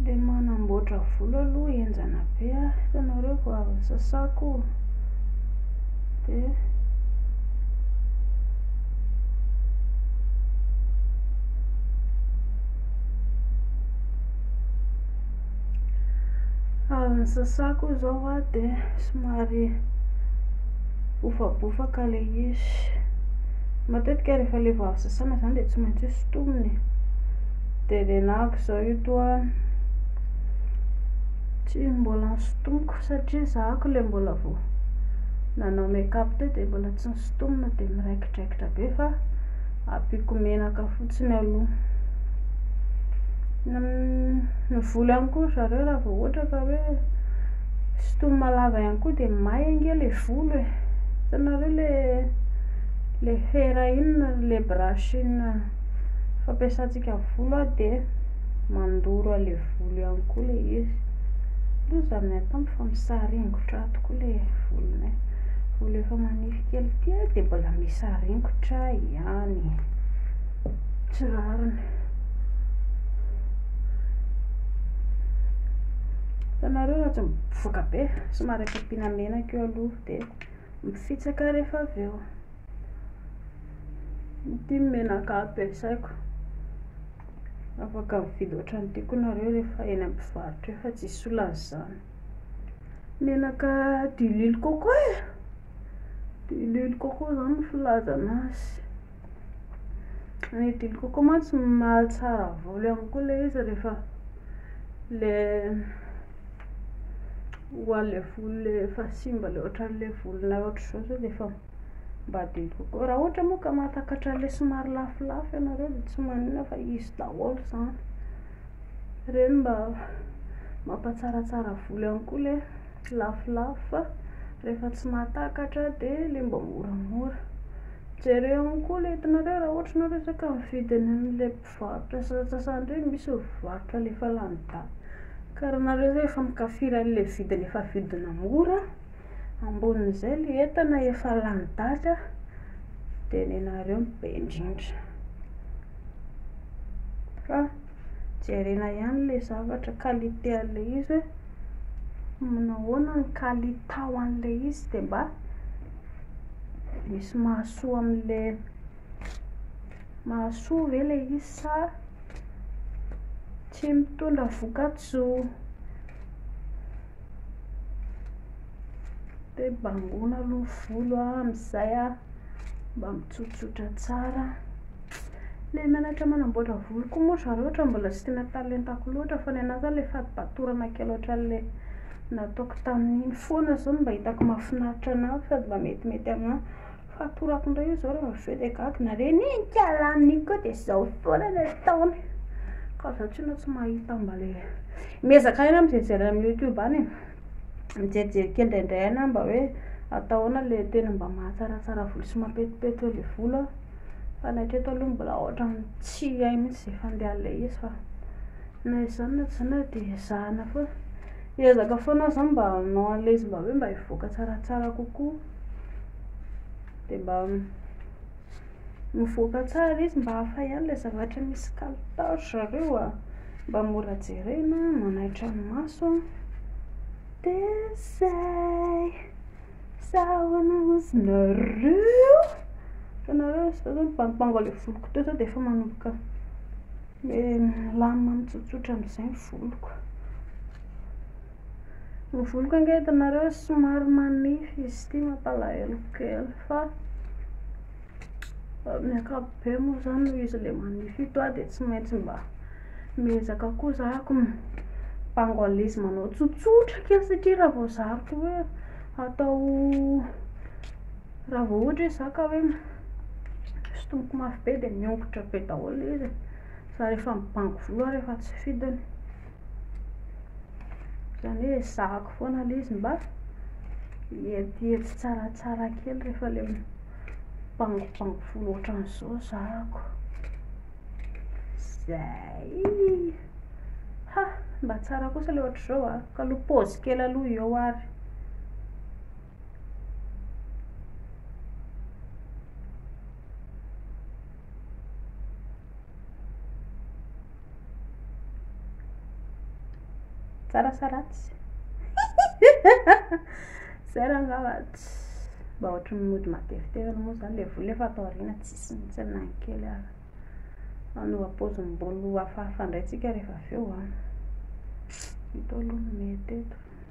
Le manamboatra volo aloha enjana be a hitanareo vao avy sasako de avy nisasako izao a de somary bofabofaka le izy Matetika rehefa le vao avy sasana izany dia tsy maintsy hosintomina e. Dia renako izao io toa tsy mbola nosintomiko satria zahako le mbola vao nanao make up teo dia mbola tsy nosintomina dia miraikidraikitra be fa ampiako menaka fotsiny aloha. Ny volo ihany koa ry zareo raha vao ohatra ka hoe Sitoma lava ihany koa dia may ange le volo e! Hitanareo le le fera iny ry le brush iny fampiasantsika amin'ny volo a dia mandoro an'le volo ihany koa le izy. Loza ny ahy tamiko fa misaringotra ato koa le volonay. Volo efa manify kely ity a dia mbola misaringotra ihany. Tsy rariny. Hitanareo raha tsy mivoaka be, somary akapiana menaka eo aloha dia mifitsaka rehefa avy eo. Ity menaka ampiasaiko. Afaka mividy ohatran'ity koa nareo rehefa eny amin'ny mpivarotra eo fa tsy hisy olana izany. Menaka d'huile coco e! D'huile coco izany no filazana azy. Ny didy coco mantsy mahatsara volo ihany koa ilay izy rehefa ilay ho an'ilay volo ilay efa simba ilay ohatran'ilay volonao ohatr'izao sao dia efa mba didy coco. Raha ohatra moa ka mahatakatra an'ilay somary lafolafo ianareo dia tsy maninona fa izy daholo izany. Ireny mba mampatsaratsara volo ihany koa ilay lafolafo fa rehefa tsy mahatakatra dia ilay mba moramora. Jereo ny koa le itanareo raha ohatra ianao resaka mividy any amle mpivarotra sasantsasany reny misy mivarotra le efa lany daty ka raha nareo zay efa mikafiry anle vidiny efa vidina mora ambonin'izay le entana efa lany daty a de nenareo no be indrindra fa jerena ihany le zavatra qualité anle izy hoe manao ahoana ny kalitao anle izy de mba misy mahasoa amle mahasoa ve le izy sa tsy mitondra vokatsoa de bangoina aloha ny volo amzay mba mitsotsotra tsara Ilay menatra manamboatra volo koa moa zareo ohatra mbola tsy tena talentako loatra fa ny anahy izao ilay fatipatorana kely ohatran'ilay nataoko tamin'iny foana izao no mba hitako mahafinaritra anahy sady mba metimety aminahy. Fatorako indray io izao rehefa avy eo dia gaga nareo anie nikala amin'iny koa dia izao foana no ataony ka izaho tsinona tsy mahita mba ilay miezaka ihany aho mijery amin'ny youtube any e, mijerijery kely indraindray any aho mba hoe atao ahoana ilay tena mba mahatsaratsara volo sy mampetipety ilay volo a. Fa ny hatreto aloha mbola ohatran'ny tsy hay mihitsy izay fandehan'ilay izy fa na izany na tsy izany ary dia ezahana foana. Hiezaka foana aho izany mba hanao an'ilay izy mba hoe mba hivoaka tsaratsara kokoa. Dia mba mivoaka tsara izy mba hafa ihany ilay zavatra misy kalitao ry zareo a, mba mora jerena, manaitra ny maso, dia izay. Sa ahoana ozy nareo? Fa nareo ozy zao mibangobango anle voloko teo zao dia efa manomboka le milamina mitsotsotra amzay ny voloko. Ny voloko ange hitanareo somary manify izy ity mampalahelo kely fa. Amin'ny ankapobeny moa zany noho izy ilay manify ito aho dia tsy maintsy mba miezaka koa za ko mibango alezy manao tsotsotra kely satria raha vao zariko hoe atao raha vao ohatra hoe za ka hoe sintomiko mafy be dia miongotra be daholo ilay izy e, za rehefa mibango volo aho rehefa tsy fidiny. Izany hoe ezahako foana aloha izy mba hietiety tsaratsara kely rehefa ilay mibangobango folo ohatran'izao zahako. Izay. Ha, mba tsara kosa ilay ohatr'izao an, ka aloha pause kely aloha eo ary. tsara sa ratsy zay raha angamba mba ohatry ny mody matevitevy aloha moa zany le vola efa atao aoriana tsisy mihitsy na ny kely ary manova paozim-bolo hafahafa indray tsika rehefa avy eo an ah. ito aloha no mety eto